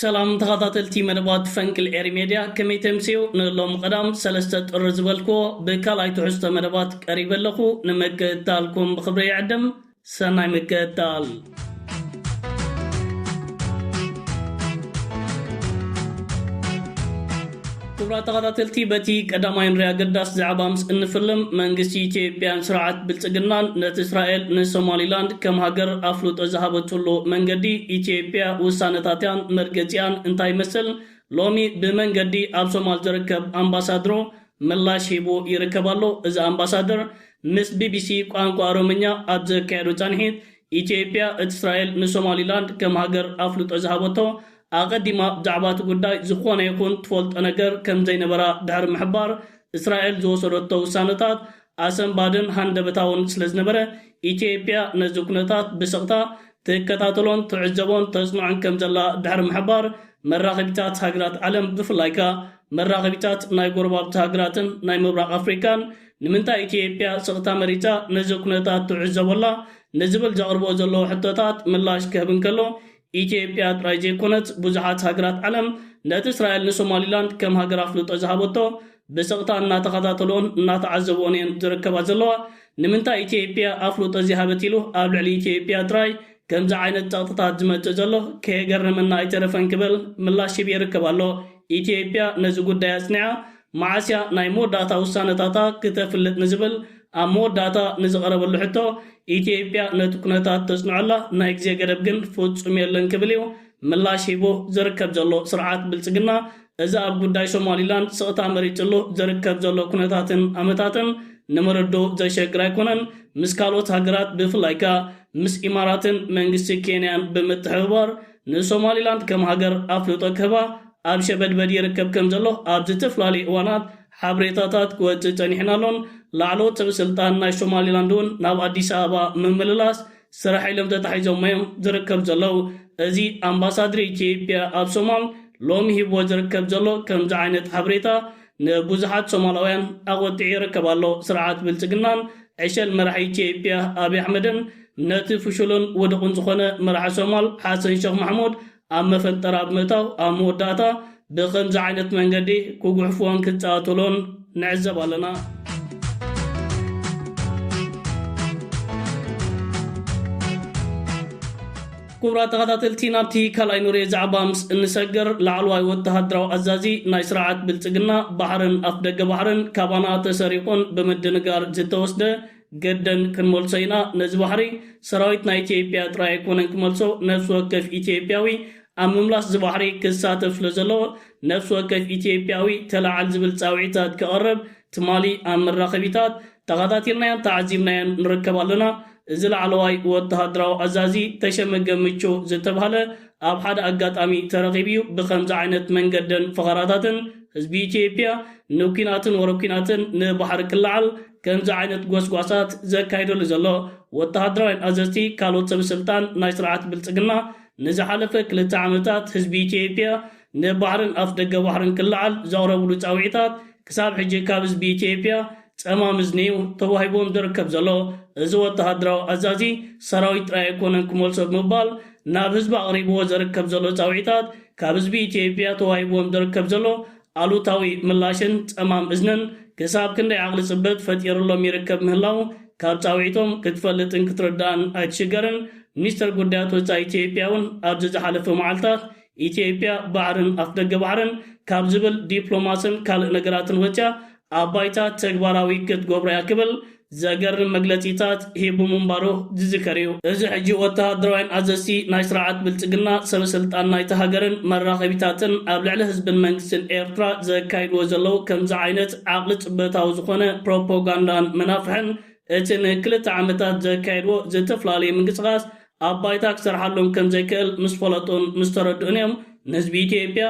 ሰላም ተኻታተልቲ መደባት ፈንቅል ኤሪ ሜድያ ከመይ ተምስዩ ንሎሚ ቀዳም ሰለስተ ጥሪ ዝበልክዎ ብካልኣይ ትሕዝቶ መደባት ቀሪበ ኣለኹ ንምክእታልኩም ብኽብሪ ይዕድም ሰናይ ምክእታል። ክብራት ተኸታተልቲ በቲ ቀዳማይን ርይ ኣገዳሲ ዛዕባ ምስ እንፍልም መንግስቲ ኢትዮጵያን ስርዓት ብልጽግናን ነቲ እስራኤል ንሶማሊላንድ ከም ሃገር ኣፍልጦ ዝሃበትሉ መንገዲ ኢትዮጵያ ውሳነታትያን መርገጺኣን እንታይ ይመስል ሎሚ ብመንገዲ ኣብ ሶማል ዝርከብ ኣምባሳድሮ ምላሽ ሂቡ ይርከብ ኣሎ እዚ ኣምባሳደር ምስ ቢቢሲ ቋንቋ ኦሮምኛ ኣብ ዘካየዶ ጻንሒት ኢትዮጵያ እቲ እስራኤል ንሶማሊላንድ ከም ሃገር ኣፍልጦ ዝሃበቶ ኣቐዲማ ብዛዕባ እቲ ጉዳይ ዝዀነ ይኹን ትፈልጦ ነገር ከም ዘይነበራ ድሕሪ ምሕባር፣ እስራኤል ዝወሰደቶ ውሳነታት ኣሰንባድን ሃንደበታውን ስለ ዝነበረ፣ ኢትዮጵያ ነዚ ኵነታት ብስቕታ ትከታተሎን ትዕዘቦን ተጽንዖን ከም ዘላ ድሕሪ ምሕባር፣ መራኸቢታት ሃገራት ዓለም ብፍላይ ከኣ መራኸቢታት ናይ ጐረባብቲ ሃገራትን ናይ ምብራቕ ኣፍሪቃን ንምንታይ ኢትዮጵያ ስቕታ መሪጻ ነዚ ኵነታት ትዕዘቦ ኣላ ንዝብል ዘቕርብኦ ዘለዉ ሕቶታት ምላሽ ክህብ እንከሎ፣ ኢትዮጵያ ጥራይ ዘይኮነት ብዙሓት ሃገራት ዓለም ነቲ እስራኤል ንሶማሊላንድ ከም ሃገር ኣፍልጦ ዝሃበቶ ብስቕታ እናተኸታተልኦን እናተዓዘብኦን እየን ዝርከባ ዘለዋ። ንምንታይ ኢትዮጵያ ኣፍልጦ ዘይሃበት ኢሉ ኣብ ልዕሊ ኢትዮጵያ ጥራይ ከምዚ ዓይነት ጸቕጥታት ዝመጽእ ዘሎ ከየገረመና ኣይተረፈን ክብል ምላሽ ሂቡ ይርከብ ኣሎ። ኢትዮጵያ ነዚ ጉዳይ ኣጽኒዓ መዓስ እያ ናይ መወዳእታ ውሳነታታ ክተፍልጥ ንዝብል ኣብ መወዳእታ ንዝቐረበሉ ሕቶ፣ ኢትዮጵያ ነቲ ኩነታት ተጽንዖ'ላ፣ ናይ ግዜ ገደብ ግን ፍጹም የለን ክብል እዩ ምላሽ ሂቡ። ዝርከብ ዘሎ ስርዓት ብልጽግና፣ እዚ ኣብ ጉዳይ ሶማሊላንድ ስቕታ መሪጽሉ ዝርከብ ዘሎ ኩነታትን ኣመታትን ንምርድኡ ዘሸግር ኣይኮነን። ምስ ካልኦት ሃገራት ብፍላይ ከኣ ምስ ኢማራትን መንግስቲ ኬንያን ብምትሕብባር፣ ንሶማሊላንድ ከም ሃገር ኣፍልጦ ክህባ ኣብ ሸበድበድ ይርከብ ከም ዘሎ ኣብ ዝተፈላለዩ እዋናት ሓብሬታታት ክወጽእ ጸኒሑን ኣሎን። ላዕለዎት ሰበ ስልጣን ናይ ሶማሊላንድ'ውን ናብ ኣዲስ ኣበባ ምምልላስ ስራሕ ኢሎም ተታሒዞሞ'ዮም ዝርከቡ ዘለው። እዚ ኣምባሳድር ኢትዮጵያ ኣብ ሶማል ሎሚ ሂብዎ ዝርከብ ዘሎ ከምዚ ዓይነት ሓብሬታ ንብዙሓት ሶማላውያን ኣቖጢዑ ይርከብ ኣሎ። ስርዓት ብልጽግናን ዕሸል መራሒ ኢትዮጵያ ኣብይ ኣሕመድን ነቲ ፍሹልን ውዱቕን ዝኾነ መራሒ ሶማል ሓሰን ሸኽ ማሕሙድ ኣብ መፈንጠራ ብምእታው ኣብ መወዳእታ ብኸምዚ ዓይነት መንገዲ ክጉሕፍዎን ክጻኣትሎን ንዕዘብ ኣለና። ኩቡራት ተኸታተልቲ ናብቲ ካልኣይ ኑሬ ዛዕባ ምስ እንሰግር ላዕለዋይ ወተሃደራዊ ኣዛዚ ናይ ስርዓት ብልጽግና ባሕርን ኣፍደገ ባሕርን ካባና ተሰሪቑን ብምድንጋር ዝተወስደ ገደን ክንመልሶ ኢና ነዚ ባሕሪ ሰራዊት ናይ ኢትዮጵያ ጥራይ ኣይኮነን ክመልሶ ነፍሲ ወከፍ ኢትዮጵያዊ ኣብ ምምላስ እዚ ባሕሪ ክሳተፍ ስለዘለዎ ነፍሲ ወከፍ ኢትዮጵያዊ ተላዓል ዝብል ጻውዒታት ከቕርብ ትማሊ ኣብ መራኸቢታት ተኻታቲልናዮን ተዓዚብናዮን ንርከብ ኣለና፣ እዚ ላዕለዋይ ወተሃደራዊ ኣዛዚ ተሸመ ገምቹ ዝተብሃለ ኣብ ሓደ ኣጋጣሚ ተረኺቡ'ዩ ብኸምዚ ዓይነት መንገድን ፈኸራታትን ህዝቢ ኢትዮጵያ ንኲናትን ወረ ኲናትን ንባሕሪ ክለዓል ከምዚ ዓይነት ጎስጓሳት ዘካይደሉ ዘሎ። ወተሃደራውያን ኣዘዝቲ ካልኦት ሰብ ስልጣን ናይ ስርዓት ብልጽግና ንዝሓለፈ ክልተ ዓመታት ህዝቢ ኢትዮጵያ ንባሕርን ኣፍደገ ባሕርን ክለዓል ዘቕረብሉ ጻውዒታት ክሳብ ሕጂ ካብ ህዝቢ ኢትዮጵያ ጸማም እዝኒ እዩ ተዋሂቡዎም ዝርከብ ዘሎ። እዚ ወተሃደራዊ ኣዛዚ ሰራዊት ጥራይ ኣይኮነን ክመልሶ ብምባል ናብ ህዝቢ ኣቕሪቡዎ ዘርከብ ዘሎ ጻውዒታት ካብ ህዝቢ ኢትዮጵያ ተዋሂቡዎም ዝርከብ ዘሎ ኣሉታዊ ምላሽን ጸማም እዝንን ክሳብ ክንደይ ዓቕሊ ጽበት ፈጢሩሎም ይርከብ ምህላዉ ካብ ጻውዒቶም ክትፈልጥን ክትርዳእን ኣይትሽገርን። ሚኒስተር ጉዳያት ወጻኢ ኢትዮጵያ'ውን ኣብዚ ዝሓለፈ መዓልታት ኢትዮጵያ ባሕርን ኣፍደገ ባሕርን ካብ ዝብል ዲፕሎማስን ካልእ ነገራትን ወጺኣ ኣብ ባይታ ተግባራዊ ክትገብሮ እያ ክብል ዘገርም መግለጺታት ሂቡ ምንባሩ ዝዝከር እዩ። እዚ ሕጂ ወተሃደራውያን ኣዘዝቲ፣ ናይ ስርዓት ብልጽግና ሰበ ስልጣን ናይታ ሃገርን መራኸቢታትን ኣብ ልዕሊ ህዝብን መንግስትን ኤርትራ ዘካይድዎ ዘለዉ ከምዚ ዓይነት ዓቕሊ ጽበታዊ ዝኾነ ፕሮፖጋንዳን መናፍሕን እቲ ንክልተ ዓመታት ዘካየድዎ ዝተፍላለየ ምንቅስቓስ ኣብ ባይታ ክሰርሓሎም ከም ዘይክእል ምስ ፈለጡን ምስ ተረድኡን እዮም ንህዝቢ ኢትዮጵያ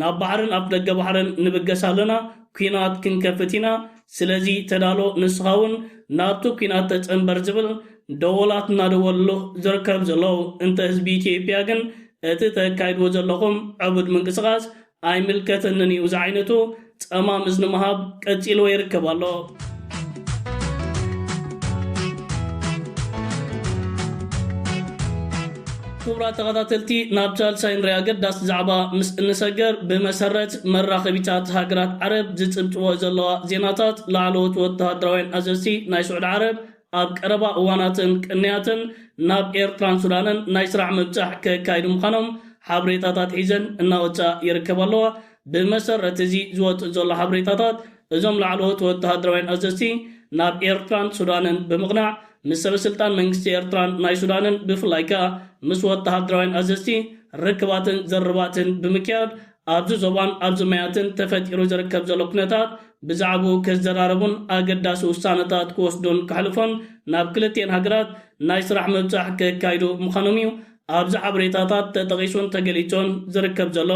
ናብ ባሕርን ኣፍደገ ባሕርን ንብገስ ኣለና፣ ኲናት ክንከፍት ኢና፣ ስለዚ ተዳሎ ንስኻ እውን ናብቲ ኲናት ተጸንበር ዝብል ደወላት እናደወልሉ ዝርከቡ ዘለዉ። እንተ ህዝቢ ኢትዮጵያ ግን እቲ ተካይድዎ ዘለኹም ዕቡድ ምንቅስቓስ ኣይምልከተንን እዩ ዝዓይነቱ ጸማም እዝኒ ምሃብ ቀጺልዎ ይርከብ ኣሎ። ክቡራት ተኸታተልቲ ናብ ሳልሳይ ንሪኣ ኣገዳሲ ዛዕባ ምስ እንሰገር ብመሰረት መራኸቢታት ሃገራት ዓረብ ዝጽብጽበኦ ዘለዋ ዜናታት ላዕለዎት ወተሃደራውያን ኣዘዝቲ ናይ ስዑድ ዓረብ ኣብ ቀረባ እዋናትን ቅንያትን ናብ ኤርትራን ሱዳንን ናይ ስራሕ ምብጻሕ ከካይዱ ምዃኖም ሓብሬታታት ሒዘን እናወጽኣ ይርከባ ኣለዋ። ብመሰረት እዚ ዝወጽእ ዘሎ ሓብሬታታት እዞም ላዕለዎት ወተሃደራውያን ኣዘዝቲ ናብ ኤርትራን ሱዳንን ብምቕናዕ ምስ ሰበስልጣን መንግስቲ ኤርትራን ናይ ሱዳንን ብፍላይ ከኣ ምስ ወተሃደራውያን ኣዘዝቲ ርክባትን ዘርባትን ብምክያድ ኣብዚ ዞባን ኣብዚ ማያትን ተፈጢሩ ዝርከብ ዘሎ ኩነታት ብዛዕብኡ ክዘራረቡን ኣገዳሲ ውሳነታት ክወስዱን ከሕልፉን ናብ ክልቲኤን ሃገራት ናይ ስራሕ ምብጻሕ ከካይዱ ምዃኖም እዩ ኣብዚ ሓበሬታታት ተጠቒሱን ተገሊጹን ዝርከብ ዘሎ።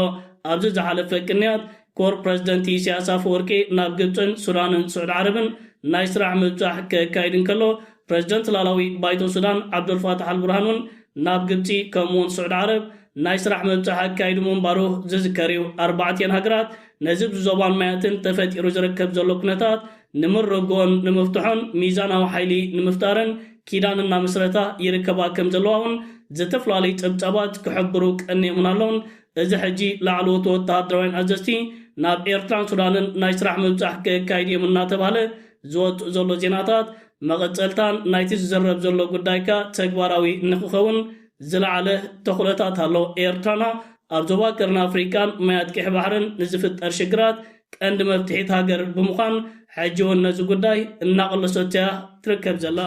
ኣብዚ ዝሓለፈ ቅንያት ኮር ፕረዚደንት ኢሳያስ ኣፈወርቂ ናብ ግብጽን ሱዳንን ስዑድ ዓረብን ናይ ስራሕ ምብጻሕ ከካይድ እንከሎ ፕረዚደንት ላላዊ ባይቶ ሱዳን ዓብዱልፋታሕ ኣልቡርሃን እውን ናብ ግብጺ ከምኡ'ውን ስዑድ ዓረብ ናይ ስራሕ ምብጻሕ ኣካይዱ ምንባሩ ዝዝከር እዩ። ኣርባዕቲኤን ሃገራት ነዚ ብ ዞባን ማያትን ተፈጢሩ ዝርከብ ዘሎ ኩነታት ንምርግኦን ንምፍትሖን ሚዛናዊ ሓይሊ ንምፍጣርን ኪዳን እናምስረታ ይርከባ ከም ዘለዋ ውን ዝተፈላለዩ ጸብጻባት ክሕብሩ ቀንየሙና ኣለውን። እዚ ሕጂ ላዕለዎት ወተሃደራውያን ኣዘዝቲ ናብ ኤርትራን ሱዳንን ናይ ስራሕ ምብጻሕ ከካይዱ እዮም እናተባህለ ዝወጽእ ዘሎ ዜናታት መቐጸልታን ናይቲ ዝዝረብ ዘሎ ጉዳይካ ተግባራዊ ንክኸውን ዝለዓለ ተኽእሎታት ኣሎ። ኤርትራና ኣብ ዞባ ቀርኒ ኣፍሪቃን ማያት ቀይሕ ባሕርን ንዝፍጠር ሽግራት ቀንዲ መፍትሒት ሃገር ብምዃን ሕጂ እውን ነዚ ጉዳይ እናቐለሶቶ እያ ትርከብ ዘላ።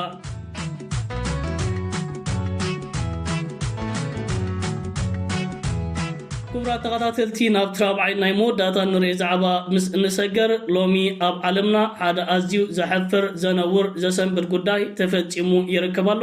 ክቡራት ተኸታተልቲ ናብቲ ራብዓይ ናይ መወዳእታ እንሪኦ ዛዕባ ምስ እንሰገር ሎሚ ኣብ ዓለምና ሓደ ኣዝዩ ዘሕፍር፣ ዘነውር፣ ዘሰንብድ ጉዳይ ተፈጺሙ ይርከብ ኣሎ።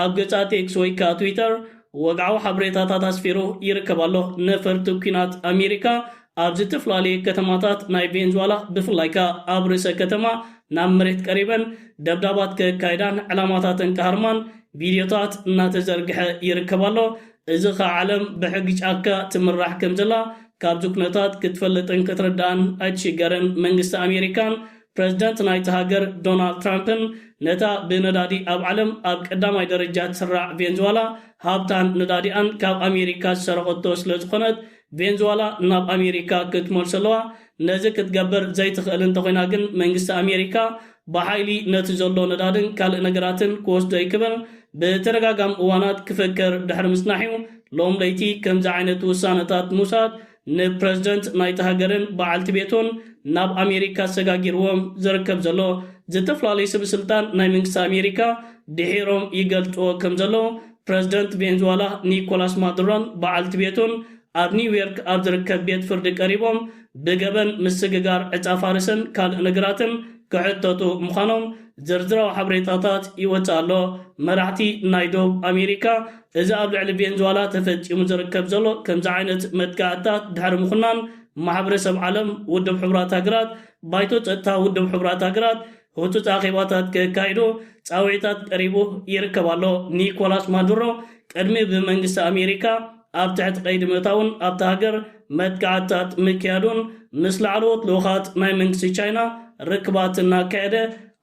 ኣብ ገጻት ኤክስ ወይ ከኣ ትዊተር ወግዓዊ ሓበሬታታት ኣስፊሩ ይርከብ ኣሎ። ነፈርቲ ኲናት ኣሜሪካ ኣብ ዝተፈላለየ ከተማታት ናይ ቬንዙዋላ ብፍላይ ከኣ ኣብ ርእሰ ከተማ ናብ መሬት ቀሪበን ደብዳባት ከካይዳን ዕላማታተን ክሃርማን ቪድዮታት እናተዘርግሐ ይርከብ ኣሎ። እዚ ከኣ ዓለም ብሕጊ ጫካ ትምራሕ ከምዘላ ካብዚ ኩነታት ክትፈልጥን ክትርዳእን ኣይትሽገርን። መንግስቲ ኣሜሪካን ፕረዚደንት ናይታ ሃገር ዶናልድ ትራምፕን ነታ ብነዳዲ ኣብ ዓለም ኣብ ቀዳማይ ደረጃ ትስራዕ ቬንዝዋላ ሃብታን ነዳዲኣን ካብ ኣሜሪካ ዝሰረቐቶ ስለዝኾነት ቬንዝዋላ ናብ ኣሜሪካ ክትመልሶ ኣለዋ ነዚ ክትገብር ዘይትኽእል እንተኾይና ግን መንግስቲ ኣሜሪካ ብሓይሊ ነቲ ዘሎ ነዳድን ካልእ ነገራትን ክወስዶ እዩ ክብል ብተደጋጋሚ እዋናት ክፍክር ድሕሪ ምጽናሕ'ዩ ሎም ለይቲ ከምዚ ዓይነት ውሳነታት ምውሳድ ንፕረዚደንት ናይታ ሃገርን በዓልቲ ቤቱን ናብ ኣሜሪካ ኣሰጋጊርዎም ዝርከብ ዘሎ ዝተፈላለዩ ሰበስልጣን ናይ መንግስቲ ኣሜሪካ ድሒሮም ይገልጽዎ ከም ዘለዉ ፕረዚደንት ቬንዝዋላ ኒኮላስ ማዱሮን በዓልቲ ቤቱን ኣብ ኒውዮርክ ኣብ ዝርከብ ቤት ፍርዲ ቀሪቦም ብገበን ምስግጋር ዕጻ ፋርስን ካልእ ነገራትን ክሕተቱ ምዃኖም ዝርዝራዊ ሓበሬታታት ይወጽእ ኣሎ። መራሕቲ ናይ ደቡብ ኣሜሪካ እዚ ኣብ ልዕሊ ቬንዙዋላ ተፈጺሙ ዝርከብ ዘሎ ከምዚ ዓይነት መጥቃዕትታት ድሕሪ ምኹናን ማሕበረሰብ ዓለም፣ ውድብ ሕቡራት ሃገራት፣ ባይቶ ጸጥታ ውድብ ሕቡራት ሃገራት ህጹጽ ኣኼባታት ከካይዱ ጻውዒታት ቀሪቡ ይርከብ ኣሎ። ኒኮላስ ማዱሮ ቅድሚ ብመንግስቲ ኣሜሪካ ኣብ ትሕቲ ቀይዲ ምእታዉን ኣብታ ሃገር መጥቃዕትታት ምክያዱን ምስ ላዕለዎት ልኡኻት ናይ መንግስቲ ቻይና ርክባት እናካየደ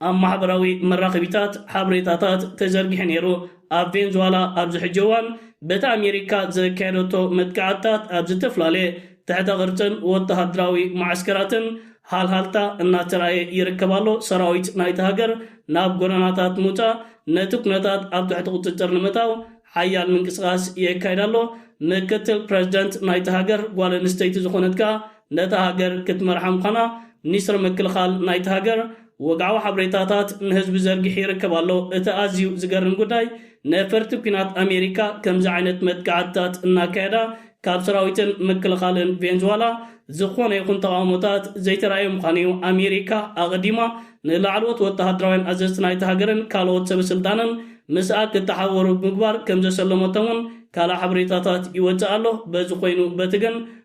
ኣብ ማሕበራዊ መራኸቢታት ሓበሬታታት ተዘርጊሑ ነይሩ። ኣብ ቬንዙዋላ ኣብዚ ሕጂ እዋን በቲ ኣሜሪካ ዘካየደቶ መጥቃዕትታት ኣብ ዝተፈላለየ ትሕተ ቅርጽን ወተሃደራዊ መዓስከራትን ሃልሃልታ እናተራእየ ይርከብ ኣሎ፣ ሰራዊት ናይታ ሃገር ናብ ጎደናታት ምውጻእ ነቲ ኩነታት ኣብ ትሕቲ ቁጽጽር ንምእታው ሓያል ምንቅስቓስ የካይድ ኣሎ፣ ምክትል ፕረዚደንት ናይታ ሃገር ጓል ኣንስተይቲ ዝኾነት ከኣ ነታ ሃገር ክትመርሓ ምዃና ሚኒስትሪ ምክልኻል ናይታ ሃገር ወግዓዊ ሓብሬታታት ንህዝቢ ዘርጊሑ ይርከብ ኣሎ። እቲ ኣዝዩ ዝገርም ጉዳይ ነፈርቲ ኩናት ኣሜሪካ ከምዚ ዓይነት መጥቃዕትታት እናካየዳ ካብ ሰራዊትን ምክልኻልን ቬንዝዋላ ዝኾነ ይኹን ተቓውሞታት ዘይተራእየ ምዃኑ እዩ። ኣሜሪካ ኣቐዲማ ንላዕለዎት ወተሃደራውያን ኣዘዝቲ ናይታ ሃገርን ካልኦት ሰበስልጣንን ምስኣ ክተሓበሩ ብምግባር ከምዘሰለመቶም እውን ካልእ ሓበሬታታት ይወጽእ ኣሎ። በዚ ኮይኑ በቲ ግን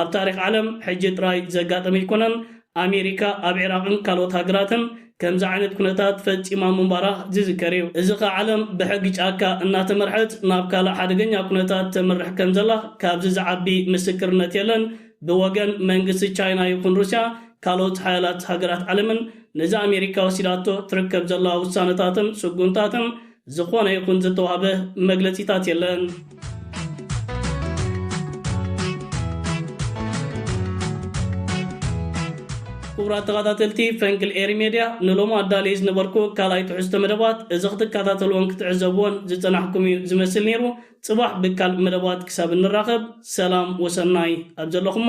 ኣብ ታሪኽ ዓለም ሕጂ ጥራይ ዘጋጠመ ኣይኮነን፣ ኣሜሪካ ኣብ ዒራቕን ካልኦት ሃገራትን ከምዚ ዓይነት ኩነታት ፈጺማ ምንባራ ዝዝከር እዩ። እዚ ከኣ ዓለም ብሕጊ ጫካ እናተመርሐት ናብ ካልእ ሓደገኛ ኩነታት ተምርሕ ከም ዘላ ካብዚ ዝዓቢ ምስክርነት የለን። ብወገን መንግስቲ ቻይና ይኹን ሩስያ ካልኦት ሓያላት ሃገራት ዓለምን ነዚ ኣሜሪካ ወሲዳቶ ትርከብ ዘላ ውሳነታትን ስጉምታትን ዝኾነ ይኹን ዝተዋህበ መግለጺታት የለን። ክቡራት ተኸታተልቲ ፈንቅል ኤሪ ሜድያ ንሎም ኣዳለይ ዝነበርኩ ካልኣይ ትሕዝቶ መደባት እዚ ክትከታተልዎን ክትዕዘብዎን ዝጸናሕኩም እዩ ዝመስል ነይሩ። ጽባሕ ብካልእ መደባት ክሳብ እንራኸብ ሰላም ወሰናይ ኣብ ዘለኹሞ